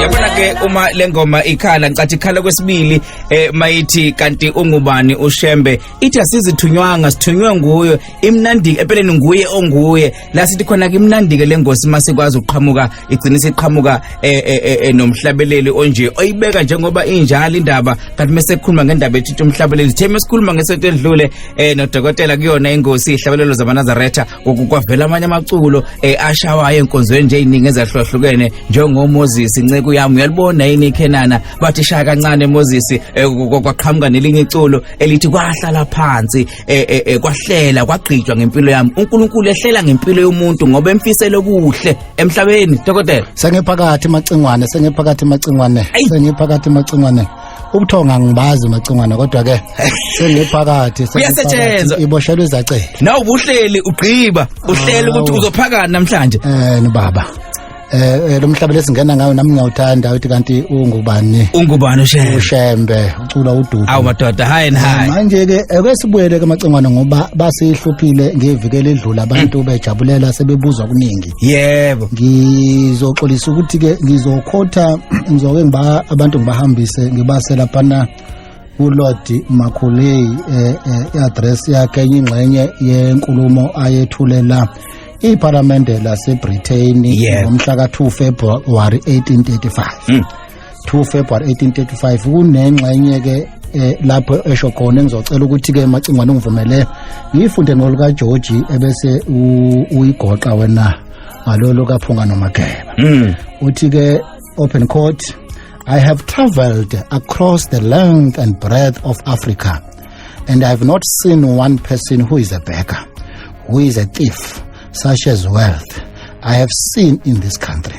yabona ke uma lengoma ikhala ngicathi ikhala kwesibili eh mayithi kanti ungubani ushembe ithi asizithunywanga sithunywe nguyo imnandi empeleni nguye onguye la sithi khona ke imnandi ke lengosi masikwazi uqhamuka igcina siqhamuka eh, eh, eh, eh nomhlabeleli onje oyibeka njengoba injalo indaba kanti mase khuluma ngendaba ethi umhlabeleli theme sikhuluma ngesethu edlule eh nodokotela kuyona ingosi ihlabelelo zamanazaretha kwavela amanye amaculo eh, ashawayo enkonzweni nje iningi ezahlukahlukene njengoMoses inceku yami uyalibona yini ikhenana bathi shaya kancane Moses eh, kwaqhamuka nelinye iculo elithi kwahlala phansi eh, kwahlela kwagqitshwa ngempilo yami uNkulunkulu ehlela ngempilo yomuntu ngoba emfisele kuhle emhlabeni dokotela sengephakathi macingwane sengephakathi macingwane sengephakathi macingwane ubuthonga ngibazi macingwana kodwa ke sengiphakathi Kuyasetshenzwa. iboshelwe izacela nawe ubuhleli ugqiba uhlele ukuthi Awu. uzophakana namhlanje eh nibaba eh eh, lo mhlaba lesingena ngayo nami ngiyawuthanda uthi kanti ungubani ungubani ushembe ushembe ucula ududu awu madoda high and high manje ke eke sibuyele ke macingwana ngoba basihluphile ngeviki eledlula abantu bejabulela sebebuza okuningi yebo ngizoxolisa ukuthi ke ngizokhotha ngizoke ngiba abantu ngibahambise ngibase laphana uLord Makhulei eh, eh, i-address yakhe enye ingxenye yenkulumo ayethule la iphalamende laseBritain ngomhla ka-2 February 1835 2 February 1835 kunengxenye ke eh, lapho esho khona engizocela ukuthi ke macingwane ungivumele ngiyifunde nolika George ebese uyigoqa wena ngalolo kaphunga nomageba mm. uthi ke open court I have traveled across the length and breadth of Africa and I have not seen one person who is a beggar who is a thief such as wealth I have seen in this country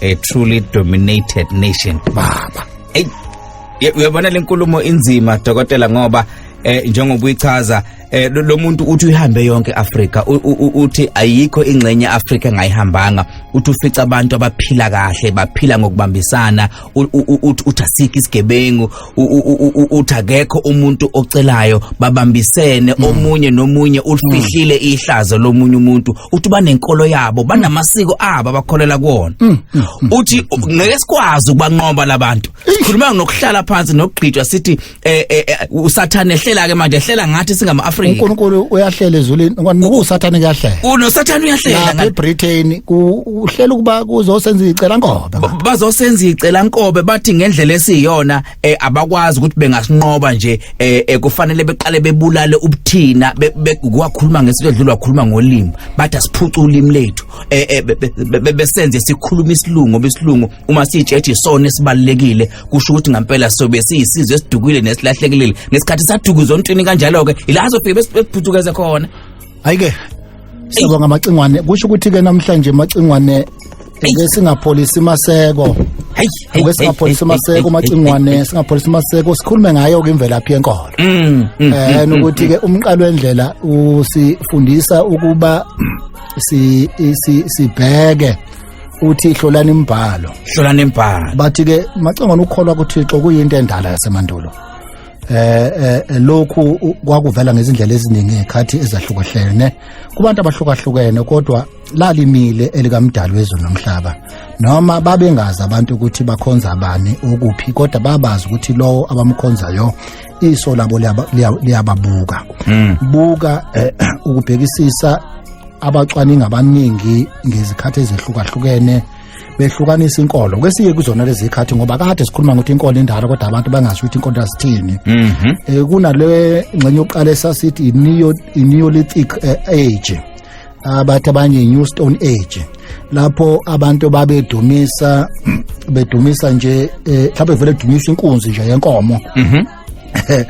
a truly dominated nation baba hey uyabona lenkulumo inzima dokotela ngoba eh njengoba uyichaza eh lo muntu uthi uyihambe yonke Africa uthi ayikho ingxenye Africa engayihambanga uthi ufica abantu abaphila kahle baphila ngokubambisana uthi asikho isigebengu uthi akekho umuntu ocelayo babambisene hmm. omunye nomunye ulifihlile hmm. ihlazo lomunye umuntu uthi banenkolo yabo banamasiko abo abakholela kuwona hmm. uthi ngeke sikwazi ukubanqoba labantu sikhuluma ngokuhlala phansi nokugqitshwa sithi eh, eh, eh, usathane ehlela ke manje ehlela ngathi singama Africa uNkulunkulu uyahlela ezulwini ngokusathane kuyahlela unosathane uyahlela lapha eBritain ku uhlela ukuba kuzosenza icela nkobe Ba- bazosenza icela nkobe bathi ngendlela esiyona eh, abakwazi ukuthi bengasinqoba nje eh, eh, kufanele beqale bebulale ubuthina be- be- kwakhuluma ngesinto edlula wakhuluma ngolimi bathi asiphuce ulimi lethu eh, eh, be- be- be- be- besenze sikhuluma isilungu ngoba isilungu uma siyitshethi isona esibalulekile kusho ukuthi ngampela sobe siyisizwe esidukile nesilahlekile ngesikhathi sadukuzwa ontwini kanjalo-ke ila azofike besiphuthuke khona Hayike. Siyabonga macingwane. Kusho ukuthi ke namhlanje macingwane ake singapholisi maseko. Hey, hey, ake singapholisi maseko macingwane, singapholisi maseko sikhulume ngayo ke imvelaphi yenkolo. Mm. mm eh mm, nokuthi mm, ke umqalo wendlela usifundisa ukuba si sibheke uthi ihlolani imbhalo. Hlolani imbhalo. Bathi ke macingwane ukholwa kuThixo kuyinto endala yasemandulo. eh, eh, eh lokhu u- kwakuvela ngezindlela eziningi ngekhathi ezahlukahlene kubantu abahlukahlukene kodwa lalimile elikamdali wezwe nomhlaba noma babengazi abantu ukuthi bakhonza abani ukuphi kodwa babazi ukuthi lowo abamkhonzayo iso labo liyaba- liya- liyababuka buka eh, ukubhekisisa abacwaningi abaningi ngezikhathi ezehlukahlukene behlukanisa inkolo kwesiye kuzona lezi zikhathi ngoba kade sikhuluma ngokuthi inkolo indala kodwa abantu bangasho ukuthi inkolo yasithini mhm. eh, kunale ngxenye yokuqala esasithi i-neolithic eh, age abathi abanye i-new stone age lapho abantu babedumisa bedumisa nje eh, mhlawumbe vele edumisa inkunzi nje yenkomo mhm. eh,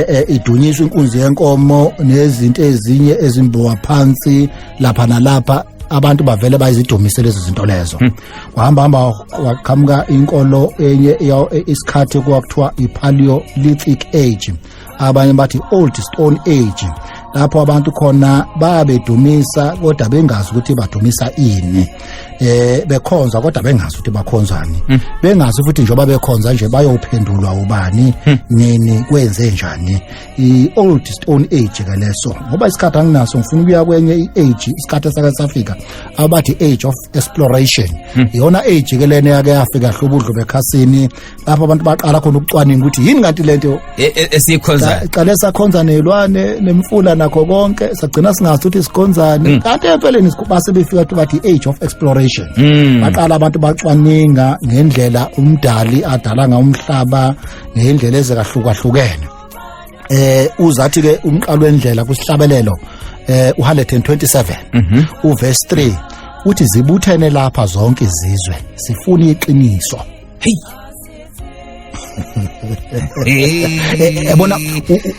eh, idunyiswa inkunzi yenkomo nezinto ezinye ezimbowa phansi lapha nalapha abantu bavele bayizidumise lezi zinto lezo hmm. wahamba hamba waqhamuka inkolo enye isikhathi kwakuthiwa i-paleolithic age abanye bathi old stone age lapho abantu khona babedumisa kodwa bengazi ukuthi badumisa ini eh bekhonza kodwa bengazi ukuthi bakhonzani hmm. bengazi futhi njengoba bekhonza nje bayophendulwa ubani hmm. nini kwenze njani i old stone age ke leso ngoba isikhathi anginaso ngifuna ukuya kwenye i age isikhathi esake safika abathi age of exploration hmm. iyona age ke lena yake yafika hlobudlo bekhasini lapho abantu baqala khona ukucwaninga ukuthi yini kanti lento e, e, esiyikhonzayo iqale sakhonza nelwane nemfula nakho konke sagcina singazi ukuthi sikhonzani mm. kanti empeleni base befika ukuthi bathi age of exploration mm. baqala abantu bacwaninga ngendlela umdali adala ngayo umhlaba ngendlela ezekahlukahlukene eh uzathi ke umqalo wendlela kusihlabelelo eh uHalet 27 mhm. uverse 3 uthi zibuthene lapha zonke izizwe sifuna iqiniso heyi yabona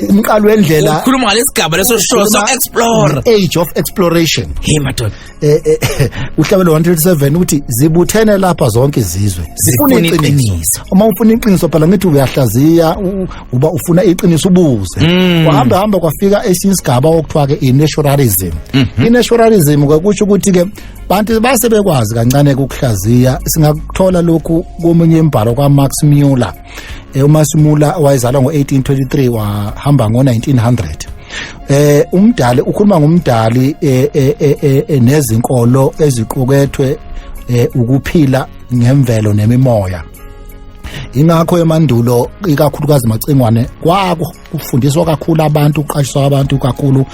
umqalo wendlela ukhuluma ngalesigaba leso show so explore age of exploration hey madoda eh, eh, eh, uhlabelo 137 ukuthi zibuthene lapha zonke izizwe zifuna iqiniso uma ufuna iqiniso phela ngithi uyahlaziya uba ufuna iqiniso ubuze mm. wahamba hamba kwafika esinye isigaba okuthiwa ke i-naturalism mhm. i-naturalism kwakusho ukuthi ke bantu base bekwazi kancane ukuhlaziya singakuthola lokhu komunye imbhalo kwamax muller eh, umax muller wayezalwa ngo-1823 wahamba ngo-1900 eh umdali ukhuluma ngomdali eh, eh, eh, nezinkolo eziqukethwe ukuphila ngemvelo nemimoya ingakho emandulo ikakhulukazi macingwane kwako kufundiswa kakhulu abantu kuqashiswa abantu kakhulu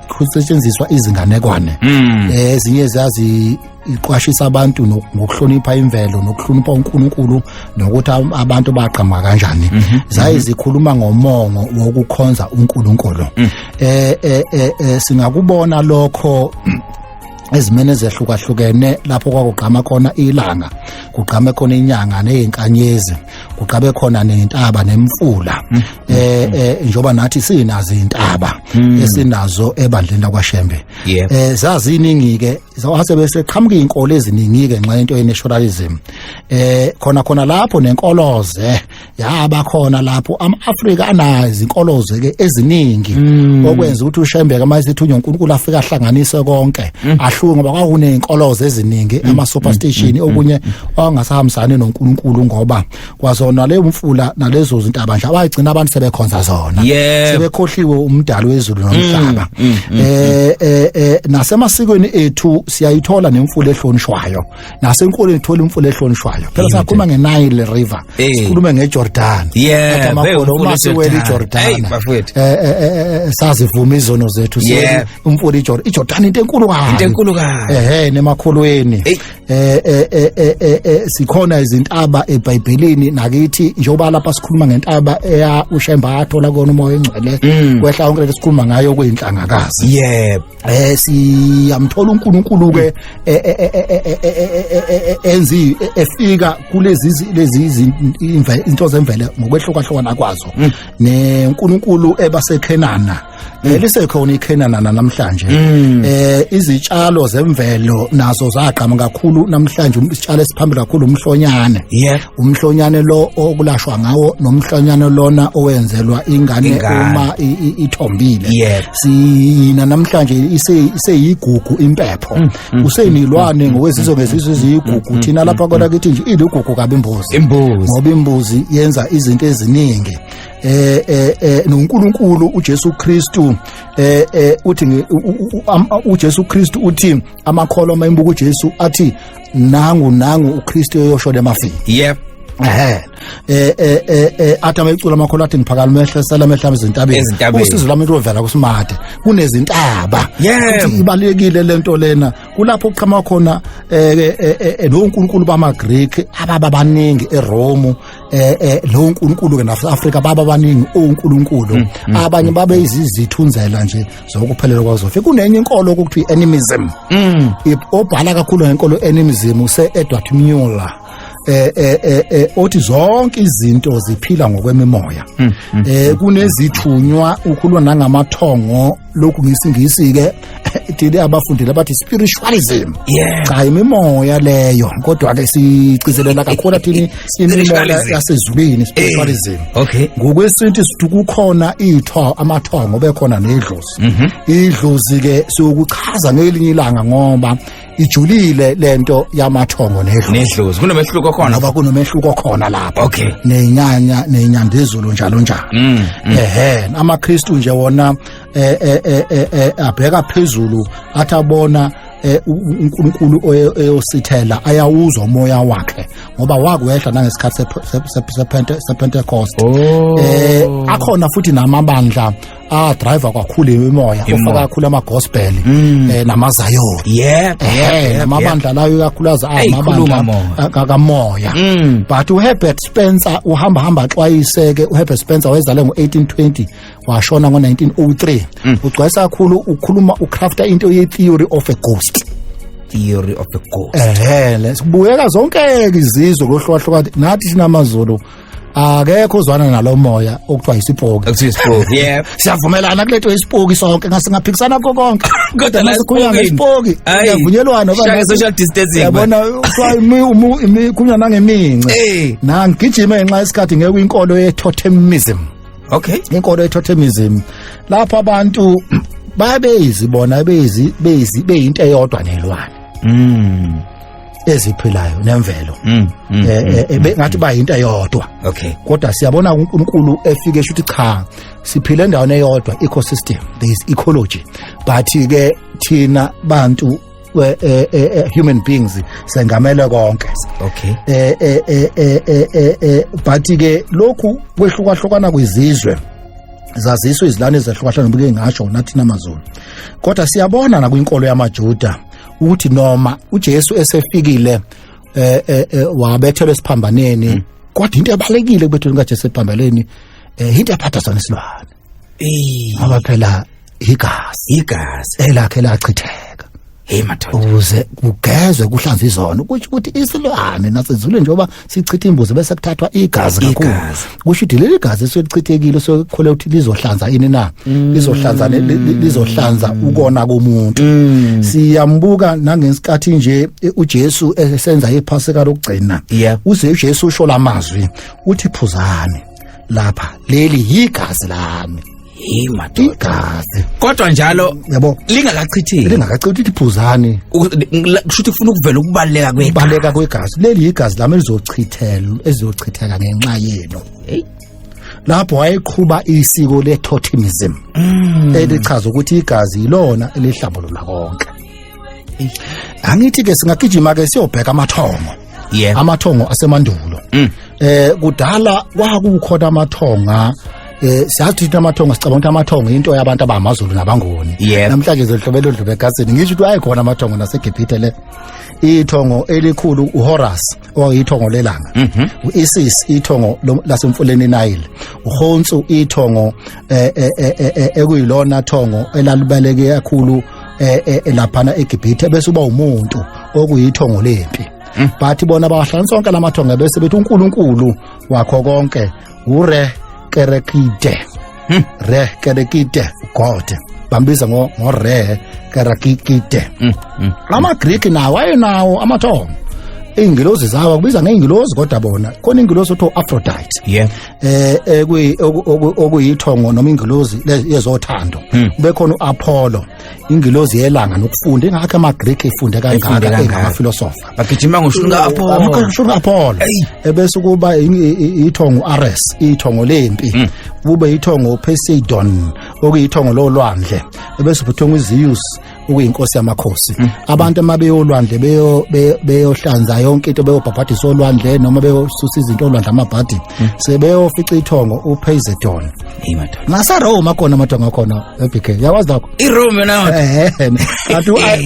kusetshenziswa izinganekwane hmm. eh, ezinye ziyazi iqwashisa abantu ngokuhlonipha imvelo nokuhlonipha uNkulunkulu nokuthi abantu baqhamuka kanjani mhm. zaye mhm. zikhuluma ngomongo wokukhonza uNkulunkulu mm. eh, eh eh eh singakubona lokho ezimene ezehlukahlukene lapho kwakugqama khona ilanga kugqame khona inyanga nezinkanyezi kuqabe khona nentaba nemfula mm. eh, mm. eh njoba nathi sinazo intaba mm. esinazo ebandleni lakwashembe eh zaziningi ke zawase bese qhamuka inkolo eziningi ke nxa into yenaturalism eh khona khona lapho nenkoloze yaba khona lapho ama-afrika anazi inkoloze ke eziningi okwenza ukuthi ushembe ke manje sithunywa uNkulunkulu afika ahlanganise konke ahluke ngoba kwakunezinkoloze eziningi ama superstition okunye ongasahambisani noNkulunkulu ngoba kwazona le umfula nalezo zintaba nje abagcina abantu sebekhonza zona yeah. sebekhohliwe umdali wezulu nomhlaba mm, mm, mm, eh, mm. eh eh nasemasikweni ethu siyayithola nemfula ehlonishwayo nasenkolweni thola imfula ehlonishwayo phela sakhuluma ngeNile River eh. sikhulume ngeJordan yeah amagolo uma siwela iJordan eh, eh, sazivuma izono zethu umfula iJordan iJordan into enkulu kabi into enkulu kabi ehe nemakholweni eh eh eh eh, eh, eh sikhona izintaba eBhayibhelini nakithi njengoba lapha sikhuluma ngentaba eya uShemba athola kona umoya engcwele mm. kwehla konke lesikhuluma ngayo kuyinhlangakazi yebo eh siyamthola uNkulunkulu ke enzi efika kulezi lezi into zemvele ngokwehlukahlukana kwazo mm. neNkulunkulu ebasekhenana eh, lisekhona iKhenana namhlanje mm. eh izitshalo zemvelo nazo zagqama kakhulu namhlanje um, isitshalo esiphambili kakhulu umhlonyane umhlonyane lo okulashwa ngawo nomhlonyane lona owenzelwa ingane uma ithombile sina namhlanje iseyigugu impepho mm, mm, usenilwane ngokwezizwe ngezizwe eziyigugu thina lapha kodwa kithi nje iligugu kabi imbuzi ngoba imbuzi yenza izinto eziningi eh eh, eh noNkulunkulu uJesu Kristu eh eh uthi uJesu Kristu uthi amakholwa uma imbuka uJesu athi nangu nangu uKristu eyosho lemafini yep ehe eh eh eh, eh athi amecula amakhola athi ngiphakala mehle sela mehle ezintabeni usizo lami lovela kusimade kunezintaba ukuthi ibalekile lento lena kulapho kuqhama khona eh, eh, eh noNkulunkulu bamaGreek ababa baningi eRome eh eh lo uNkulunkulu ke nafu Africa baba baningi uNkulunkulu mm, mm, abanye mm. babe izizithunzela nje zokuphelela kwazofe kunenye inkolo ukuthi animism obhala kakhulu ngenkolo animism use Edward Muller eh eh eh, eh othi zonke izinto ziphila ngokwemimoya eh kunezithunywa ukhulwa nangamathongo lokhu ngisingisi-ke thina abafundile abathi spiritualism yeah. cha imimoya leyo kodwa-ke sigcizelela kakhulu athini imimoya yasezulwini eh, spiritualism hey. okay. ngokwesintu sithi kukhona itho amathongo bekhona nedlozi mm -hmm. idlozi-ke siyokuchaza ngelinye ilanga ngoba ijulile lento yamathongo nedlozi nedlozi kunomehluko khona ngoba kunomehluko khona lapha okay nenyanya nenyandezulu njalo njalo mm, mm. ehe amaKristu nje wona eh, eh, eh, abheka phezulu athi abona Eh, uNkulunkulu oyosithela ayawuzwa umoya wakhe ngoba wakwehla nangesikhathi sePentecost oh. eh akhona futhi namabandla ah driver kwakhulu imimoya ofaka kakhulu ama gospel mm. eh namazayon yeah eh namabandla layo kakhuluza amabandla kamoya mm. but uHerbert Spencer uhamba hamba xwayiseke uHerbert Spencer wayezale ngo1820 washona ngo1903 mm. ugcwesa kakhulu ukhuluma ucrafta into ye theory of a ghost theory of a ghost ehele sibuyeka zonke izizwe kohlukahlukana nathi sinamazulu akekho uzwana nalomoya okuthiwa isipoki Akuthi isipoki. Yep. siyavumelana kulento isipoki sonke ngasingaphikisana kukho konke Kodwa la masikhuluma esipokini. ngesipoki Ayi. kuyavunyelwana oba Shaka ngathi- social distancing, yabona kuthiwa imi- umu- imi- kunywa nangemince Eh. nangigijime ngenxa yesikhathi ngeke inkolo ye-totemism Okay. inkolo ye-totemism lapho abantu babeyizi bona beyizi beyizi beyinto eyodwa nelwane Mm. eziphilayo nemvelo mm, mm, eh, mm, eh, eh mm, ngathi mm. bayinto eyodwa okay kodwa siyabona uNkulunkulu efike shuthi cha siphile endaweni eyodwa ecosystem there is ecology but ke thina bantu eh, eh, eh, human beings sengamele konke okay eh eh eh eh eh but ke lokhu kwehlukahlukana kwizizwe zaziswa izilwane ezahlukahlukana bike ngasho nathi namaZulu kodwa siyabona nakwinkolo yamaJuda ukuthi noma uJesu esefikile eh, eh, eh wabethelwa esiphambaneni hmm. kodwa into ebalekile kubethelwa kaJesu esiphambaneni eh into yaphatha sona isilwane eh ngoba phela igazi igazi elakhe lachitheka hey madoda ukuze kugezwe kuhlanzwe izono ukuthi ukuthi isilwane nasezulwini njengoba sichitha imbuzi bese kuthathwa igazi kakhulu Igazi. kusho ukuthi leli gazi eselichithekile sokhole ukuthi lizohlanza ini na Mm. lizohlanza ne- li- li- lizohlanza ukona komuntu Mm. siyambuka nangesikhathi nje eh, uJesu esenza iphasika lokugcina Yeah. uze uJesu usho lamazwi uthi phuzani lapha leli yigazi lami Hey madoda. igazi Kodwa njalo yabo lingakachitheki. lingakacithi ukuthi phuzani U- la- Kusho ukuthi ufuna ukuvela ukubaleka kwegazi. baleka kwegazi leli yigazi lami elizochithela ezizochitheka ngenxa yenu Hey. lapho wayeqhuba isiko le-totemism Mm. elichaza ukuthi igazi yilona elihlambulula konke angithi-ke singagijima-ke siyobheka amathongo yeah. amathongo asemandulo mm. eh kudala kwakukhona amathonga eh siyazi ukuthi amathongo sicabanga ukuthi amathongo into yabantu abamazulu nabangoni yeah. namhlanje zodlobelo dlobe egasini ngisho ukuthi ayikhona amathongo naseGibhithe le ithongo elikhulu uHorus owayithongo lelanga mm -hmm. uIsis ithongo lasemfuleni Nile uHonsu ithongo eh, eh, eh, ekuyilona thongo elalibaleke kakhulu eh, eh, eh laphana eGibhithe bese uba umuntu okuyithongo lempi mm. bathi bona bawahlanganisa onke lamathongo bese bethi uNkulunkulu wakho konke ure kerekide mm. re kerekide god bambiza ngo ngo re kerekide mm. mm. ama greek nawo ayenawo amathongo iingilozi zawo akubiza ngeengilozi kodwa bona khona ingilozi othiwa aphrodite yeah eh ekuyi okuyithongo noma ingilozi yezothando hmm. bekhona uApollo ingilozi yelanga nokufunda ingakho amaGreek efunde kangaka engamafilosofa bagijima ngoshunga eh, Apollo ngoshunga Apollo ebese kuba ithongo uAres ithongo lempi hmm. kube ithongo uPoseidon okuyithongo lolwandle ebese ubuthongo uZeus ukuyinkosi yamakhosi mm. abantu uma beyolwandle beyo beyohlanza yonke into beyobhabhadisa olwandle noma beyosusa izinto olwandle amabhadi mm. sebeyofica ithongo uphezedon nasaroma khona amathongo akhona ebk yawazi lakho irome nawo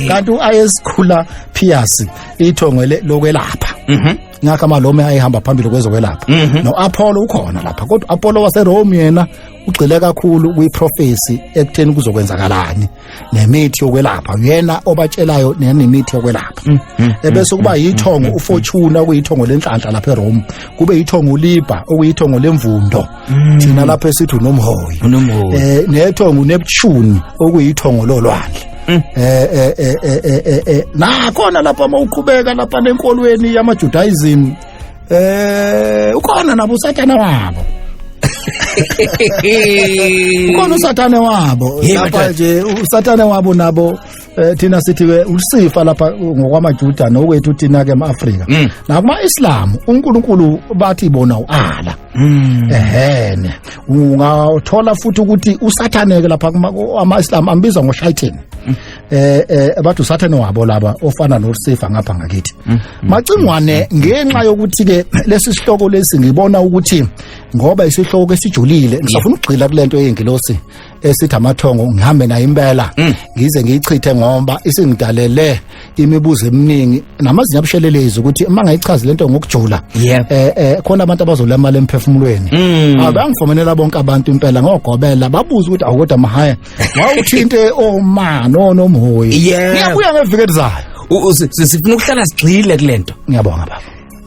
kanti uayesikhula phiyasi ithongo lokwelapha mhm. ngakho amalome ayehamba phambili kwezokwelapha mhm. no-apollo ukhona lapha kodwa u-apollo waserome yena ugxile kakhulu kwiprofesi ekutheni kuzokwenzakalani nemithi yokwelapha uyena obatshelayo nemithi yokwelapha mm, mm, mm, ebese kuba yithongo ufortune okuyithongo lenhlanhla lapha eRome kube yithongo uliba okuyithongo lemvundo thina lapha esithi unomhoyi eh nethongo uneptune okuyithongo lolwandle eh eh eh eh, eh, eh, eh. nakhona lapha uma uqhubeka lapha nenkolweni yamajudaism eh ukhona nabo usathana wabo ukhona usathane wabo Yebo, lapha Dad. nje usathane wabo nabo eh, thina sithi ke usifa lapha ngokwamajuda nokwethu thina ke ema-afrika Mm. nakuma-islamu unkulunkulu bathi bona u-ala Mm. ehene ungathola futhi ukuthi usathaneke lapha kuma- ama-islamu ambiza ngoshayithini eh eh abantu sathane wabo laba ofana noSifa ngapha ngakithi mm. macingwane mm. ngenxa yokuthi ke lesi sihloko lesi ngibona ukuthi ngoba isihloko esijulile ngisafuna ukugxila kulento yengilosi esithi amathongo ngihambe naye impela mm. ngize ngiyichithe ngoba isingidalele imibuzo eminingi namazinyo abushelelezi ukuthi uma ngayichazi lento ngokujula eh eh khona abantu abazola imali emphefumulweni abangifomenela bonke abantu impela ngogobela babuza ukuthi awukodwa mahaya wawuthinte oma no nomhoyi Yeah. ngiyabuya ngeviki elizayo U- u- si- si- sifuna ukuhlala sigxile kulento ngiyabonga baba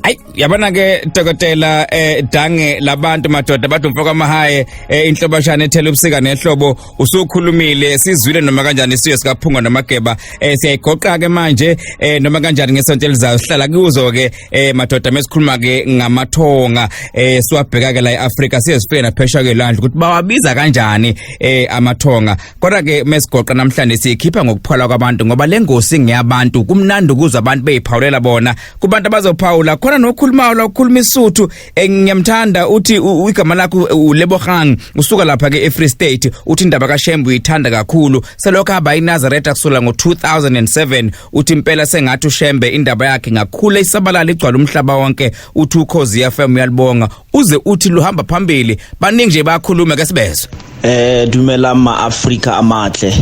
Ay yabona ke dokotela eh dange labantu madoda bathi umfoko amahaye eh inhlobashana ethela ubusika nehlobo usukhulumile sizwile noma kanjani isiyo sikaphunga nomageba eh siyayigoqa ke manje eh noma kanjani ngesonto elizayo sihlala kuzo ke eh madoda mesikhuluma ke ngamathonga eh siwabheka ke la eAfrika siye sifike naphesha ke landle ukuthi bawabiza kanjani eh amathonga kodwa ke mesigoqa namhlanje sikhipha ngokuphola kwabantu ngoba lengosi ngeyabantu kumnandi ukuzwa abantu beyiphawulela bona kubantu abazophawula khona nokhulumayo lokhuluma isuthu Eh, ngiyamthanda uthi igama lakho ulebogang usuka lapha ke eFree State uthi indaba kaShembe uyithanda kakhulu selokho hamba iNazareth akusula ngo2007 uthi impela sengathi uShembe indaba yakhe ngakhula isabalala igcwala umhlaba wonke uthi ukhozi FM uyalibonga uze uthi luhamba phambili baningi nje bakhuluma ke sibezwe eh dumela ma Africa amahle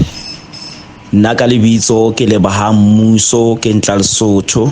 nna ka lebitso ke lebahang mmuso ke ntla lesotho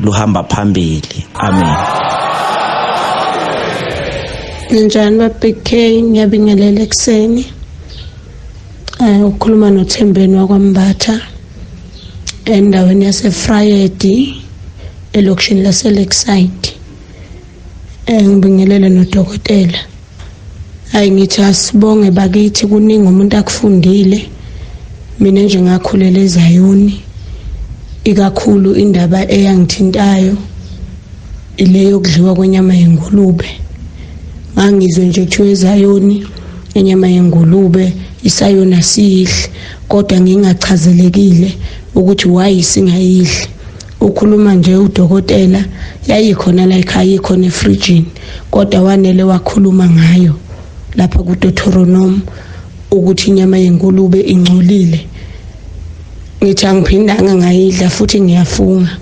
luhamba phambili amen Ninjani baBig K ngiyabingelela ekuseni eh ukhuluma noThembeni wakwambatha endaweni yaseFrayedi elokishini laseLakeside eh ngibingelele nodokotela Hayi ngithi asibonge bakithi kuningi umuntu akufundile mina nje ngakhulela ezayoni ikakhulu indaba eyangithintayo ile yokudliwa kwenyama yengulube ngangizwe nje kuthiwa ezayoni inyama yengulube isayona siyihle kodwa ngingachazelekile ukuthi why singayidli ukhuluma nje udokotela yayikhona la ekhaya ikhona efrijini kodwa wanele wakhuluma ngayo lapha kuDeuteronomy ukuthi inyama yenkulubi ingcolile ngithi angiphindanga ngayidla futhi ngiyafunga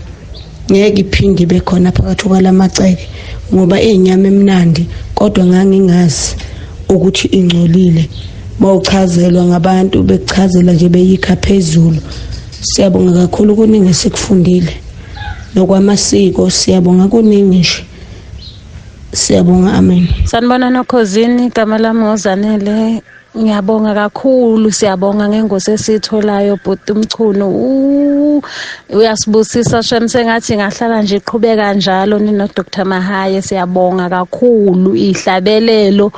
ngeke iphinde ibe khona phakathi kwalamaceke ngoba iyinyama emnandi kodwa ngangingazi ukuthi ingcolile bawuchazelwa ngabantu bekuchazela nje beyikha phezulu Siyabonga kakhulu kuningi esikufundile nokwamasiko siyabonga kuningi nje siyabonga amen sanibona nokhozini igama lami ngozanele Ngiyabonga kakhulu siyabonga ngengosi esiyitholayo bhuti umchunu uyasibusisa shem sengathi ngahlala nje iqhubeka njalo nino Dr Mahaye siyabonga kakhulu ihlabelelo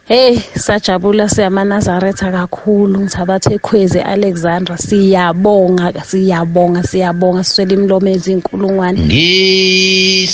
Hey sajabula siyamanazaretha kakhulu ngithabathe ekhwezi Alexandra siyabonga siyabonga siyabonga siswele imlomo ezinkulungwane Ngisele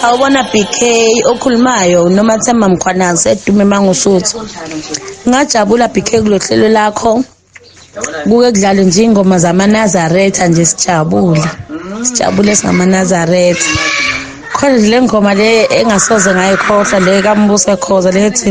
Sawubona BK okhulumayo uNomathemba Mkhwanazi edume mangusuthu. Ngajabula BK kulohlelo lakho. Kuke kudlale nje ingoma zamaNazaretha nje sijabule. Sijabule singamaNazaretha. Khona le ngoma le engasoze ngayikhohlwa le kaMbuso Khoza lethi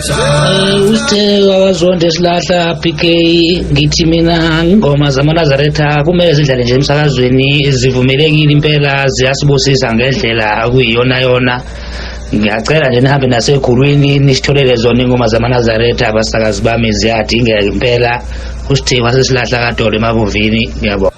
Eh, usithe akazonde silahla PK ngithi mina ingoma zamanazaretha kumele zidlale nje emsakazweni zivumelekile impela ziyasibusisa ngendlela kuyiyona yona ngiyacela nje nihambe nasekhulwini nisitholele zona ingoma zamanazaretha abasakazi bami ziyadingeka impela usithe wasesilahla kadolo emabuvini ngiyabona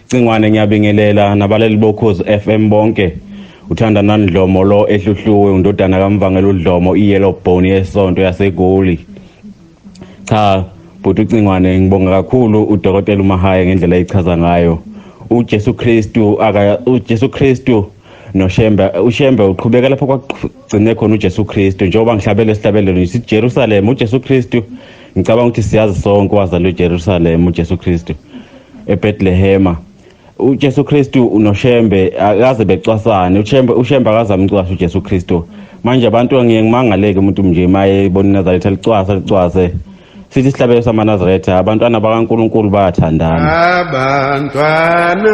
Cingwane ngiyabingelela nabaleli bokhozi FM bonke uthanda nandlomo lo ehluhluwe undodana kamvangela udlomo iyellow bone yesonto yasegoli cha bhuti ucingwane ngibonga kakhulu udokotela umahaya ngendlela eyichaza ngayo uJesu Kristu aka uJesu Kristu noShembe uShembe uqhubeka lapho kwagcine khona uJesu Kristu njengoba ngihlabele isihlabelelo siJerusalem uJesu Kristu ngicabanga ukuthi siyazi sonke wazalwa eJerusalem uJesu Kristu eBethlehema uJesu Kristu unoShembe akaze becwasane uShembe uShembe akaze amcwashe uJesu Kristu manje abantu ngiye ngimangaleke umuntu mnje maye bona iNazaretha alicwasa alicwase sithi isihlabelo samanazaretha abantwana bakaNkulunkulu bayathandana abantwana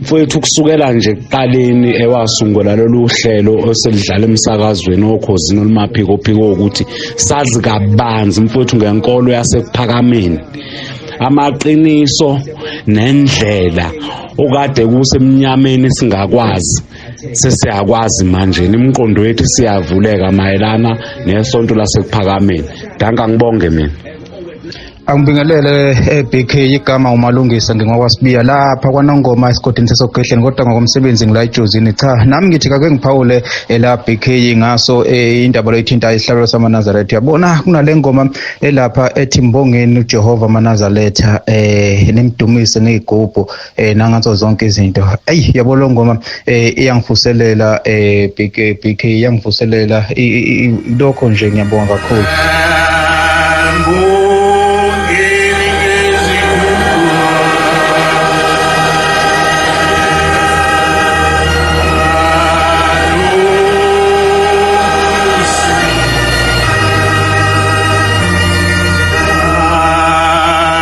mfowethu kusukela nje kuqaleni ewasungula lolu hlelo oselidlala emsakazweni okhozini olumaphiko phiko ukuthi sazi kabanzi mfowethu ngenkolo yasekuphakameni amaqiniso nendlela okade kusemnyameni singakwazi sesiyakwazi manje imiqondo yethu siyavuleka mayelana nesonto lasekuphakameni danka ngibonge mina Angibingelele eBK eh, igama umalungisa ngingokwasibiya lapha kwanongoma esigodini sesogedleni kodwa ngokomsebenzi ngila ejozini cha nami ngithi kake ngiphawule ela eh, BK ngaso eh, indaba leyithinta isihlalo samaNazaretha yabona kunale ngoma elapha ethi mbongeni uJehova amaNazaretha eh nimdumise ngezigubhu eh nangazo zonke izinto ayi yabo lo ngoma eh iyangivuselela eh big big iyangivuselela lokho nje ngiyabonga kakhulu